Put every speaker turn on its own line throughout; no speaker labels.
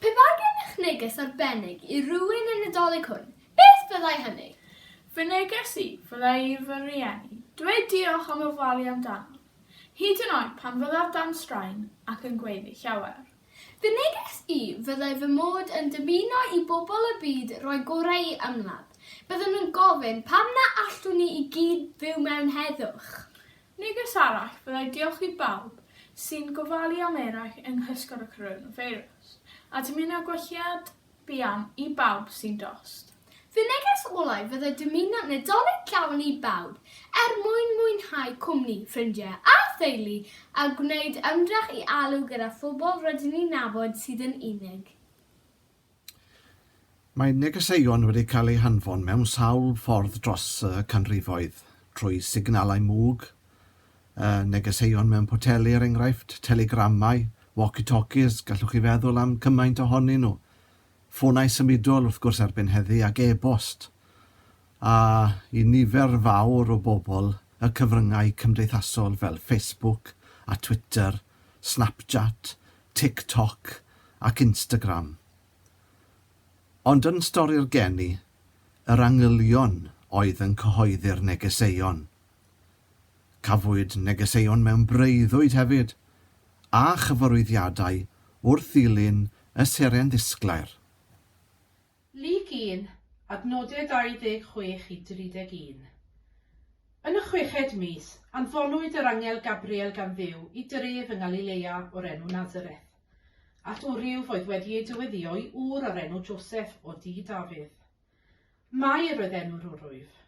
Pe bai gennych neges arbennig i rywun y Nadolig hwn, beth fyddai hynny? Fy neges i fyddai i fy rhieni dweud diolch am ofalu amdano, hyd yn oed pan fyddaf dan straen ac yn gweiddi llawer. Fy neges i fyddai fy mod yn dymuno i bobl y byd roi gorau i ymladd. Byddwn yn gofyn, pam na allwn ni i gyd fyw mewn heddwch? Neges arall fyddai diolch i bawb sy'n gofalu am eraill yng nghysgod y coronafeirws, a dymuno gwelliad buan i bawb sy'n dost. Fy neges olau fyddai dymuno Nadolig llawen i bawb, er mwyn mwynhau cwmni ffrindiau a theulu a gwneud ymdrech i alw gyda phobl rydyn ni'n nabod sydd yn unig. Mae negeseuon wedi cael eu hanfon mewn sawl ffordd dros y canrifoedd, trwy signalau mwg, negeseuon mewn poteli er enghraifft, telegramau, walkie-talkies, gallwch chi feddwl am cymaint ohonyn nhw, ffonau symudol wrth gwrs erbyn heddi ac e-bost, a i nifer fawr o bobl y cyfryngau cymdeithasol fel Facebook a Twitter, Snapchat, TikTok ac Instagram. Ond yn stori'r geni, yr angylion oedd yn cyhoeddi'r negeseuon. Cafwyd negeseuon mewn breuddwyd hefyd, a chyfarwyddiadau wrth ddilyn y seren ddisglair. Lug un, adnodau 26 i 31. Yn y chweched mis, anfonwyd yr angel Gabriel gan Dduw i dref yng Ngalilea o'r enw Nazareth, at wryw oedd wedi ei dyweddïo i ŵr o'r enw Joseph o dŷ Dafydd. Mair oedd enw'r wrwyf.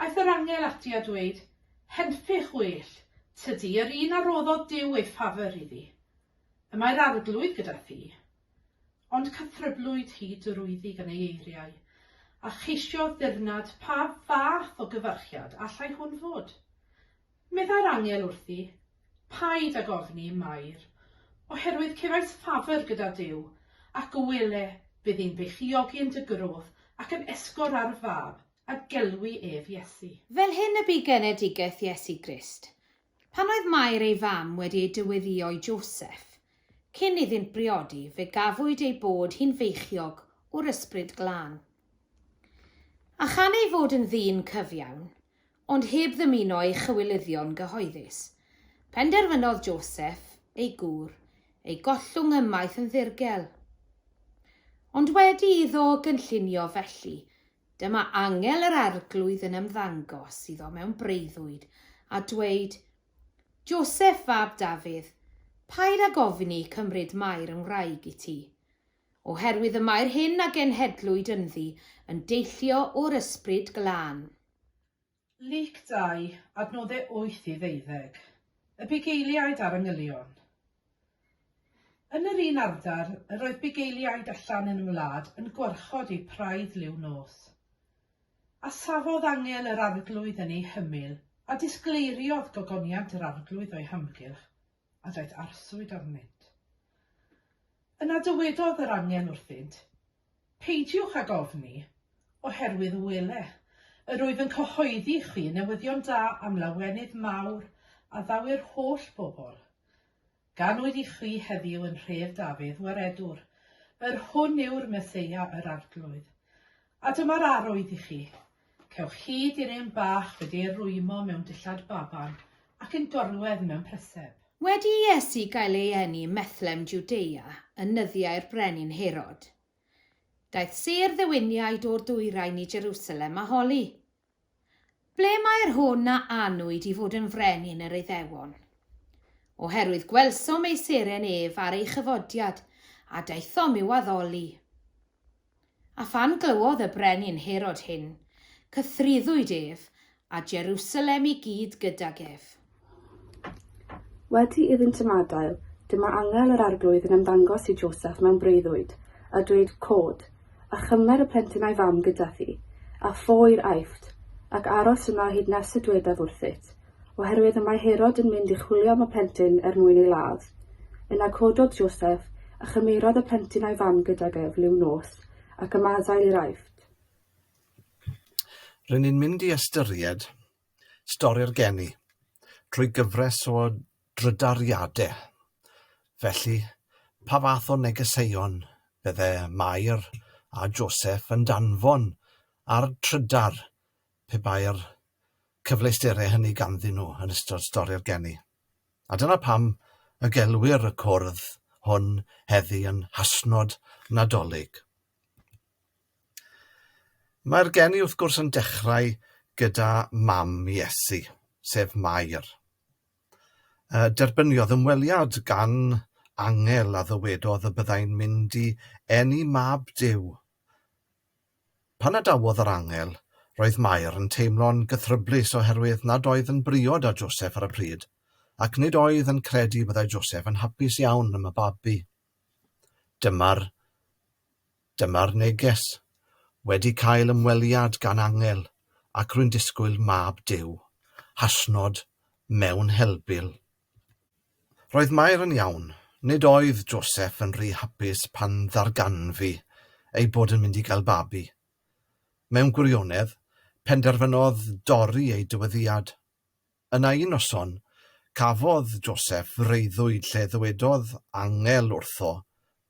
Aeth yr angel ati a dweud, Henffych well, tydi, yr un a roddodd Duw ei ffafr iddi. Y mae'r Arglwydd gyda thi. Ond cythryblwyd hi drwyddi gan ei eiriau, a cheisiodd ddirnad pa fath o gyfarchiad allai hwn fod. Meddai'r angel wrthi, Paid ag ofni, Mair, oherwydd cefais ffafr gyda Duw, ac o wele, bydd hi'n beichiogi yn dy groth ac yn esgor ar y fab, a gelwi ef Iesu. Fel hyn y bu genedigaeth Iesu Grist, Pan oedd Mair ei fam wedi ei dyweddïo i Joseff, cyn iddynt briodi, fe gafwyd ei bod hi'n feichiog o'r Ysbryd Glân. A chan ei fod yn ddyn cyfiawn, ond heb ddymuno ei chywilyddion gyhoeddus, penderfynodd Joseff, ei gŵr, ei gollwng ymaith yn ddirgel. Ond wedi iddo gynllunio felly, Dyma angel yr Arglwydd yn ymddangos iddo mewn breuddwyd, a dweud, Joseph fab Dafydd, paid ag ofni cymryd Mair yn wraig i ti. Oherwydd y mae'r hyn a genhedlwyd ynddi yn deillio o'r Ysbryd Glân. Luc 2, adnodde 8 i ddeuddeg. Y bugeiliaid a'r angylion. Yn yr un ardal, yr oedd bugeiliaid allan yn y wlad yn gwarchod eu praidd liw nos. A safodd angel yr arglwydd yn ei hymyl, a disgleiriodd gogoniant yr arglwydd o'i hamgylch, a daeth arswyd arnynt. Yna dywedodd yr angel wrthynt, Peidiwch ag ofni, oherwydd wele, yr wyf yn cyhoeddi i chwi newyddion da am lawenydd mawr a ddaw'r holl bobl. Ganwyd i chwi heddiw yn nhref Dafydd waredwr, yr hwn yw'r Meseia yr Arglwydd. A dyma'r arwydd i chi, Cewch hyd i'r un bach wedi'i rwymo mewn dillad baban ac yn gorwedd mewn pryseb. Wedi i Iesu gael ei eni ym Methlehem Jwdea yn nyddiau'r brenin Herod, daeth sêr ddewyniaid o'r dwyrain i Jerusalem a holi, Ble mae'r hwn a anwyd i fod yn frenin yr Iddewon? Oherwydd gwelsom ei seren ef ar ei chyfodiad, a daethom i'w addoli. A phan glywodd y brenin Herod hyn, cythryddwyd ef, a Jerusalem i gyd gydag ef. Wedi iddynt ymadael, dyma angel yr Arglwydd yn ymddangos i Joseph mewn breuddwyd, a dweud, Cod, a chymer y plentyn a'i fam gyda thi, a ffoi i'r Aifft, ac aros yno hyd nes y dwedaf wrthyt, oherwydd y mae Herod yn mynd i chwilio am y plentyn er mwyn ei ladd. Yna cododd Joseff, a chymerodd y plentyn a'i fam gydag ef liw nos, ac ymadael i'r Aifft. Rŷn ni'n mynd i ystyried stori'r geni drwy gyfres o drydariadau. Felly, pa fath o negeseuon fydde Mair a Joseff yn danfon ar drydar pe bai'r cyfleusterau hynny ganddyn nhw yn ystod stori'r geni. A dyna pam y gelwir y cwrdd hwn heddi yn Hashnod Nadolig. Mae'r geni wrth gwrs yn dechrau gyda mam Iesu, sef Mair. Derbyniodd ymweliad gan angel a ddywedodd y byddai'n mynd i eni mab Duw. Pan adawodd yr angel, roedd Mair yn teimlo'n gythryblus oherwydd nad oedd yn briod â Joseff ar y pryd, ac nid oedd yn credu byddai Joseff yn hapus iawn am y babi. Dyma'r Dyma'r neges. Wedi cael ymweliad gan angel, ac rwy'n disgwyl Mab Duw. Hashnod mewn helbul. Roedd Mair yn iawn. Nid oedd Joseph yn rhy hapus pan ddarganfu ei bod yn mynd i gael babi. Mewn gwirionedd, penderfynodd dorri ei dyweddiad. Yna un noson, cafodd Joseph freuddwyd lle ddywedodd angel wrtho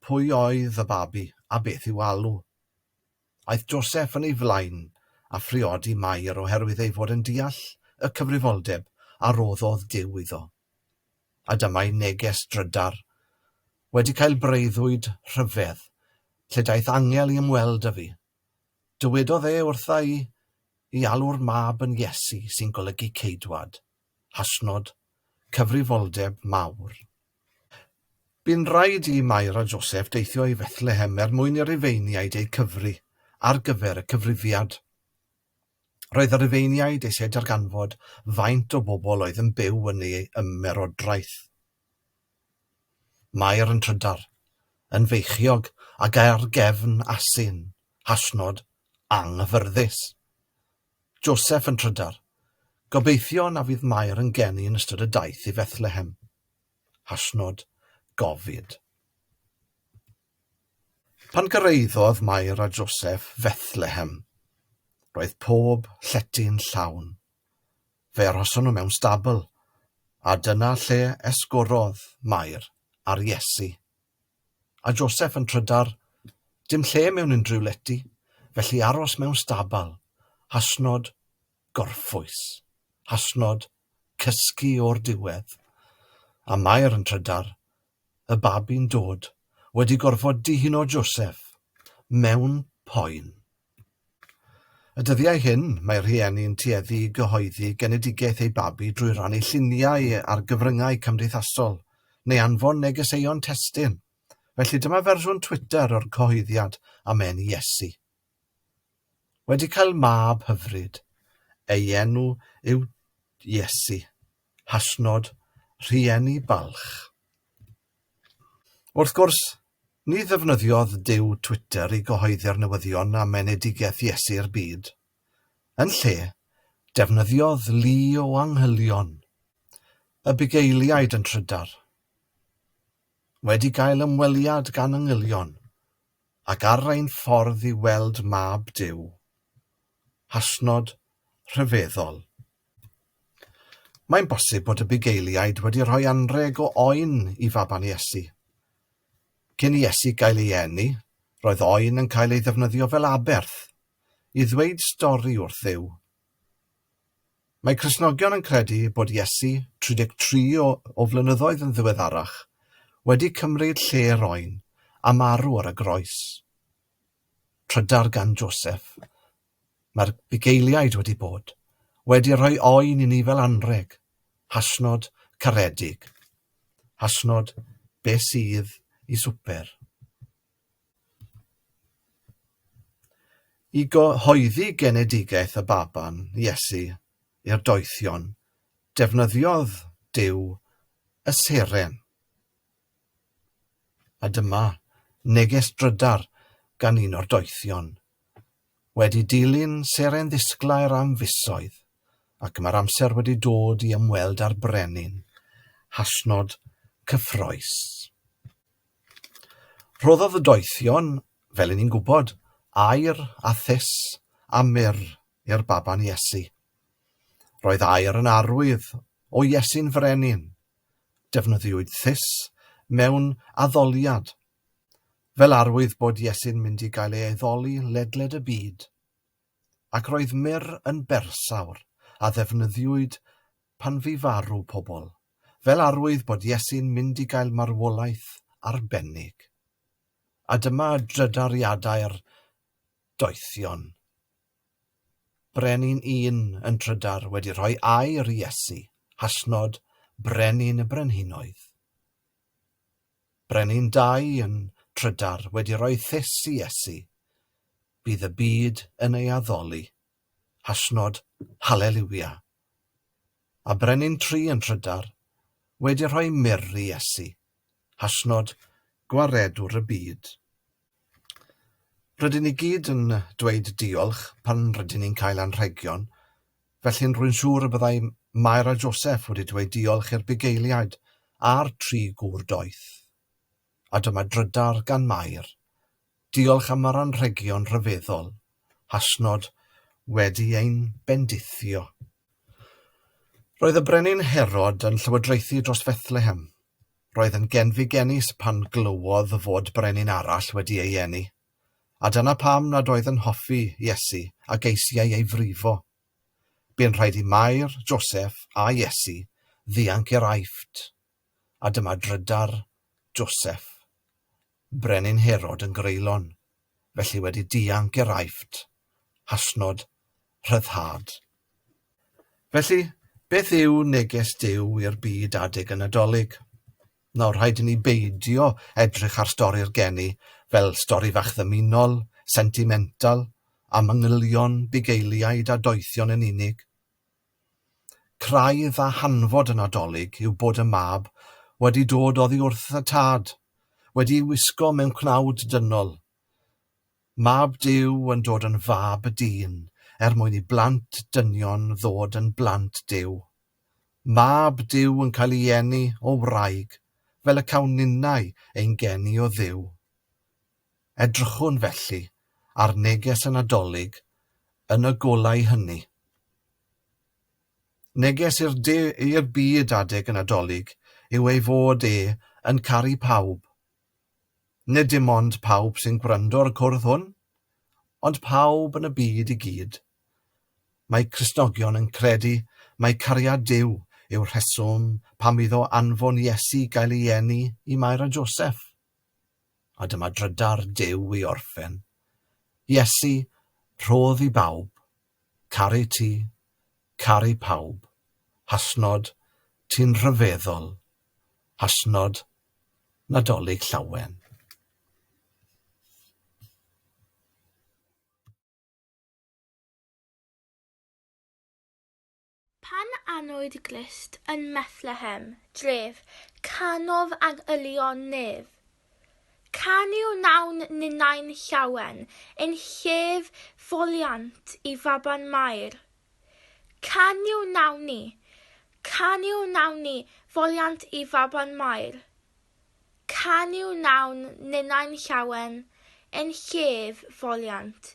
pwy oedd y babi a beth i'w alw. Aeth Joseph yn ei flaen a phriodi Mair oherwydd ei fod yn deall y cyfrifoldeb a roddodd Duw iddo. A dyma'i neges drydar, Wedi cael breuddwyd rhyfedd, lle daeth angel i ymweld â fi. Dywedodd e wrtha i i alw'r mab yn Iesu sy'n golygu Ceidwad. hashnod, cyfrifoldeb mawr. Bu'n rhaid i Mair a Joseph deithio i Fethlehem er mwyn i Rufeiniaid eu cyfri ar gyfer y cyfrifiad. Roedd y Rufeiniaid eisiau darganfod faint o bobl oedd yn byw yn ei ymerodraeth. Mair yn trydar, yn feichiog ac ar gefn asyn, hashnod, anghyffyrddus. Joseff yn trydar. Gobeithio na fydd Mair yn geni yn ystod y daith i Fethlehem. Hashnod gofid. Pan gyrraeddodd Mair a Joseff Fethlehem, roedd pob llety'n llawn. Fe arhoson nhw mewn stabl, a dyna lle esgorodd Mair ar Iesu. A Joseph yn trydar, dim lle mewn unrhyw lety, felly aros mewn stabal, hashnod gorffwys, hashnod cysgu o'r diwedd. A Mair yn trydar, y babi'n dod, wedi gorfod dihuno Joseph, mewn poen. Y dyddiau hyn, mae rhieni'n tueddu i gyhoeddi genedigaeth eu babi drwy rannu lluniau ar gyfryngau cymdeithasol, neu anfon negeseuon testun. Felly dyma fersiwn Twitter o'r cyhoeddiad am eni Iesu. Wedi cael mab hyfryd. Ei enw yw Iesu. Hashnod, Rhieni balch. Wrth gwrs, Ni ddefnyddiodd Duw Twitter i gyhoeddi'r newyddion am enedigaeth Iesu i'r byd. Yn lle, defnyddiodd lu o angylion y bugeiliaid yn trydar. Wedi cael ymweliad gan angylion, ac ar ein ffordd i weld Mab Duw, hashnod rhyfeddol. Mae'n bosib bod y bugeiliaid wedi rhoi anrheg o oen i faban Iesu. Cyn i Iesu gael ei eni, roedd oen yn cael ei ddefnyddio fel aberth i ddweud stori wrth Dduw. Mae Cristnogion yn credu bod Iesu, 33 o, o flynyddoedd yn ddiweddarach, wedi cymryd lle'r oen a marw ar y groes. trydar gan Joseph, mae'r bugeiliaid wedi bod wedi rhoi oen i ni fel anrheg, hashnod caredig, hashnod be sydd i swper. I gyhoeddi genedigaeth y Baban, Iesu, i'r doethion, defnyddiodd Duw y seren. A dyma neges drydar gan un o'r doethion. Wedi dilyn seren ddisglair am fisoedd, ac mae'r amser wedi dod i ymweld â'r brenin. Hashnod cyffrous. Rhoddodd y doethion, fel i ni'n gwybod, aer a thus a myr i'r baban Iesu. Roedd aer yn arwydd o Iesu'n frenin. Defnyddiwyd thus mewn addoliad, fel arwydd bod Iesu'n mynd i gael ei aeddoli ledled y byd, ac roedd myr yn bersawr a ddefnyddiwyd pan fu farw pobl, fel arwydd bod Iesu'n mynd i gael marwolaeth arbennig. A dyma drydariadau'r doethion. Brenin un yn trydar wedi rhoi air i Iesu, hashnod Brenin y Brenhinoedd. Brenin dau yn trydar wedi rhoi thys i Iesu, Bydd y byd yn ei addoli, hashnod Hallelujah. A Brenin tri yn trydar wedi rhoi myrr i Iesu, hashnod Gwaredwr y byd. Rydyn ni gyd yn dweud diolch pan rydyn ni'n cael anrhegion, felly'n rwy'n siŵr y byddai Mair a Joseph wedi dweud diolch i'r bugeiliaid a'r tri gŵr doeth. A dyma drydar gan Mair. Diolch am yr anrhegion rhyfeddol. Hashnod wedi ein bendithio. Roedd y Brenin Herod yn llywodraethu dros Fethlehem. Roedd yn genfigennus pan glywodd fod brenin arall wedi ei eni, a dyna pam nad oedd yn hoffi Iesu a geisiai ei frifo. Bu'n rhaid i Mair, Joseph a Iesu ddianc i'r Aifft, a dyma drydar, Joseph. Brenin Herod yn greulon, felly wedi dianc i'r Aifft, hasnod rhyddhad. Felly, beth yw neges Duw i'r byd adeg y Nadolig? Nawr, rhaid i ni beidio edrych ar stori'r geni fel stori fach ddymunol, sentimental, a manylion bugeiliaid a doethion yn unig. Craidd a hanfod y Nadolig yw bod y mab wedi dod oddi wrth y tad, wedi'i wisgo mewn cnawd dynol. Mab Duw yn dod yn fab y dyn er mwyn i blant dynion ddod yn blant Duw. Mab Duw yn cael ei eni o wraig, fel y cawn ninnau ein geni o Dduw. Edrychwn, felly, ar neges y Nadolig yn y golau hynny. Neges i'r i'r byd adeg y Nadolig yw ei fod e yn caru pawb. Nid dim ond pawb sy'n gwrando'r cwrdd hwn, ond pawb yn y byd i gyd. Mae Cristnogion yn credu mai cariad Duw yw'r rheswm pam iddo anfon Iesu gael ei eni i Mair a Joseph. A dyma drydar Duw i orffen. Iesu, rhodd i bawb, caru ti, caru pawb, hasnod, ti'n rhyfeddol, hasnod, Nadolig Llawen. Pan anwyd Grist yn Methlehem, dref, canodd ag ylion nef. Canu wnawn ninnau'n llawen, yn llef foliant i faban Mair. Canu wnawn ni, canu wnawn ni, foliant i faban Mair. Canu wnawn ninnau'n llawen, yn llef foliant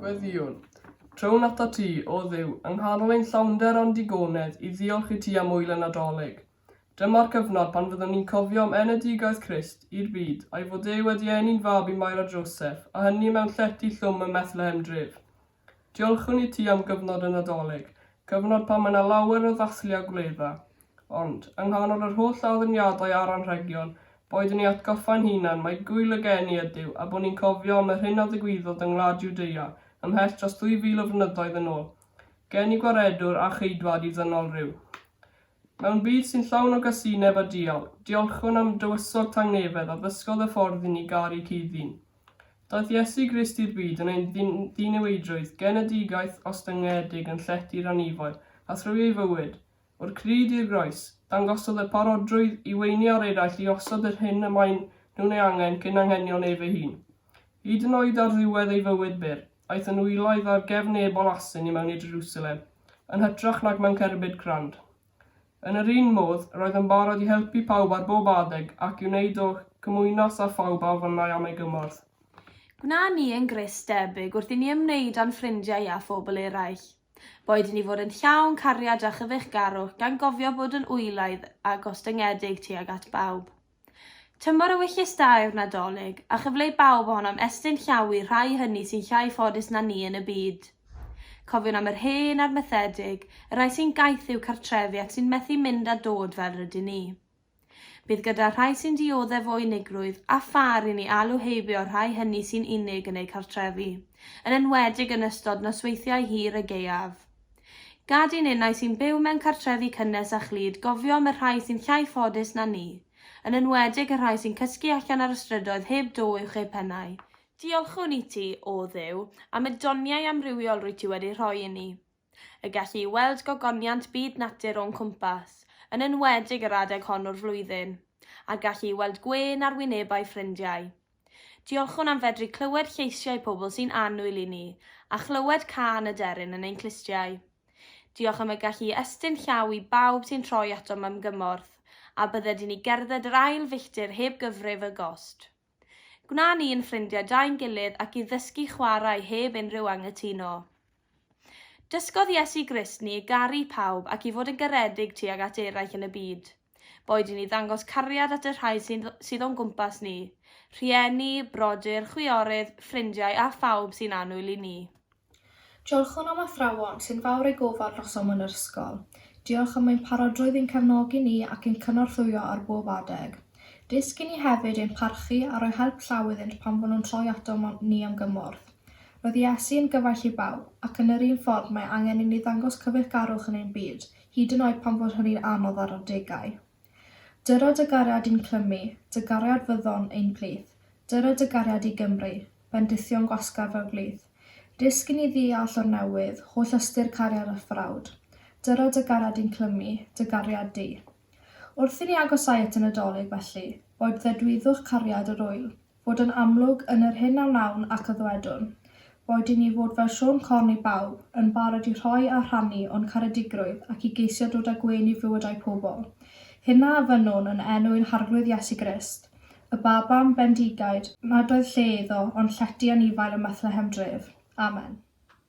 Gweddïwn, trown atat ti, o Dduw, yng nghanol ein llawnder a'n digonedd, i ddiolch i ti am wyl y Nadolig. Dyma'r cyfnod pan fyddwn ni'n cofio am enedigaeth Christ i'r byd, a'i fod e wedi eni'n fab i Mair a Joseph, a hynny mewn llety llwm ym Methlehem Dref. Diolchwn i ti am gyfnod y Nadolig, cyfnod pan mae 'na lawer o ddathlu a gwledda. Ond, yng nghanol yr holl addurniadau a'r anrhegion, boed yn ei atgoffa'n hunan mai Gŵyl y Geni ydyw a bod ni'n cofio am yr hyn a ddigwyddodd yng ngwlad Jwdea ymhell dros ddwy fil o flynyddoedd yn ôl, geni Gwaredwr a Cheidwad i ddynol ryw. Mewn byd sy'n llawn o gasineb a dial, diolchwn am dywysog tangnefedd a ddysgodd y ffordd i ni garu cudd-ddyn. Daeth Iesu Grist i'r byd yn ein ddiniweidrwydd genedigaeth ostyngedig yn llety'r anifail, a thrwy ei fywyd, o'r crud i'r groes, dangosodd y parodrwydd i weiniaur eraill i osod yr hyn y maen nhw'n ei angen cyn anghenion ef ei hun. Hyd yn oed ar ddiwedd ei fywyd byr, aeth yn wyloedd ar gefn ebol asyn i mewn i Jerusalem, yn hytrach nag mewn cerbyd crand. Yn yr un modd, roedd yn barod i helpu pawb ar bob adeg ac i wneud o cymwynas â phawb a ofynnai am ei gymorth. Gwna ni yn Grist debyg wrth i ni ymwneud â'n ffrindiau a phobl eraill. Boed i ni fod yn llawn cariad a chyfeillgarwch, gan gofio bod yn wyloedd a gostyngedig tuag at bawb. Tymor ewyllys da yw'r Nadolig, a chyfle i bawb ohonom estyn llaw i'r rhai hynny sy'n llai ffodus na ni yn y byd. Cofiwn am yr hen a'r methedig, y rhai sy'n gaeth i'w cartrefi ac sy'n methu mynd a dod fel rydyn ni. Bydd gyda'r rhai sy'n dioddef o unigrwydd a phâr i ni alw heibio'r rhai hynny sy'n unig yn eu cartrefi, yn enwedig yn ystod nosweithiau hir y gaeaf. Gad i ninnau sy'n byw mewn cartrefi cynnes a chlyd gofio am y rhai sy'n llai ffodus na ni, yn enwedig y rhai sy'n cysgu allan ar y strydoedd heb do uwch eu pennau. Diolchwn i ti, O Dduw, am y doniau amrywiol rwyt ti wedi rhoi inni. Y gallu i weld gogoniant byd natur o'n cwmpas, yn enwedig yr adeg hon o'r flwyddyn, a'r gallu i weld gwên ar wynebau ffrindiau. Diolchwn am fedru clywed lleisiau pobl sy'n annwyl i ni, a chlywed cân y deryn yn ein clustiau. Diolch am y gallu i estyn llaw i bawb sy'n troi atom am gymorth, a bydded i ni gerdded yr ail filltir heb gyfrif y gost. Gwna ni yn ffrindiau da'n gilydd ac i ddysgu chwarae heb unrhyw anghytuno. Dysgodd Iesu Grist ni i garu pawb ac i fod yn garedig tuag at eraill yn y byd. Boed i ni ddangos cariad at y rhai sy'n sydd o'n gwmpas ni, rhieni, brodyr, chwiorydd, ffrindiau a phawb sy'n annwyl i ni. Diolch o'n am athrawon sy'n fawr eu gofal noson yn yr ysgol. Diolch am ein parodrwydd i'n cefnogi ni ac i'n cynorthwyo ar bob adeg. Dysg i ni hefyd ein parchu a rhoi help llaw iddynt pan fo nhw'n troi atom ni am gymorth. Roedd Iesu yn gyfaill i bawb, ac yn yr un ffordd mae angen inni ddangos cyfeillgarwch yn ein byd, hyd yn oed pan fod hynny'n anodd ar adegau. Dyra dy gariad i'n clymu, dy gariad fyddon, ein plith. Dyra dy gariad i Gymru, bendithion gwasgar fel blith. Dysg inni ddeall o'r newydd, holl ystyr cariad a thrawd. Dyra dy gariad i'n clymu, dy gariad di. Wrth inni agosáu at y Nadolig, felly, boed ddedwyddwch cariad yr ŵyl, fod yn amlwg yn yr hyn a wnawn ac a ddwedwn, boed i ni fod fel Siôn Corn i bawb, yn barod i rhoi a rhannu o'n caredigrwydd ac i geisio dod â gwên i fywydau pobl. Hynna a fynnwn yn enw ein Harglwydd Iesu Grist, y Babam bendigaid nad oedd lle iddo ond llety anifail ym Methlehem dref. Amen.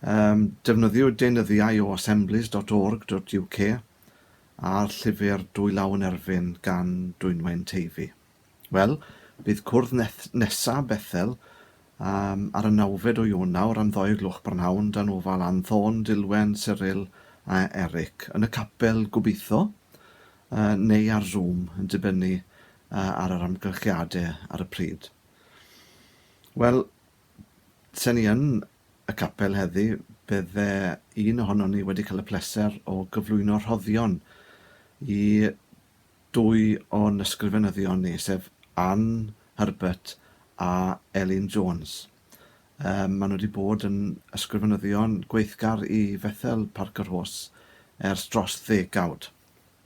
Yym, defnyddiwyd deunyddiau o assemblies dot org dot UK a'r llyfr Dwy Law yn Erfyn gan Dwynwen Teifi. Wel, bydd cwrdd neth- nesa' Bethel yym ar y nawfed o Ionawr am ddou o'r gloch brynhawn dan ofal Anthôn, Dilwen, Cyril a Eric, yn y capel, gobeitho, yy neu ar Zoom, yn dibynnu yy ar yr amgylchiade ar y pryd. Wel, 'sen ni yn y capel heddi, bydde un ohonon ni wedi cael y pleser o gyflwyno rhoddion i dwy o'n ysgrifenyddion ni, sef Ann Herbert a Elin Jones. Yy, maen nhw wedi bod yn ysgrifenyddion gweithgar i Fethel Parc-y-rhos ers dros ddegawd.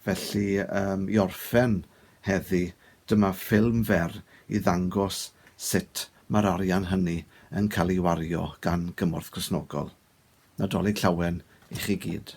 Felly, i orffen heddi, dyma ffilm fer i ddangos sut mae'r arian hynny yn cael ei wario gan Gymorth Cristnogol. Nadolig Llawen i chi gyd.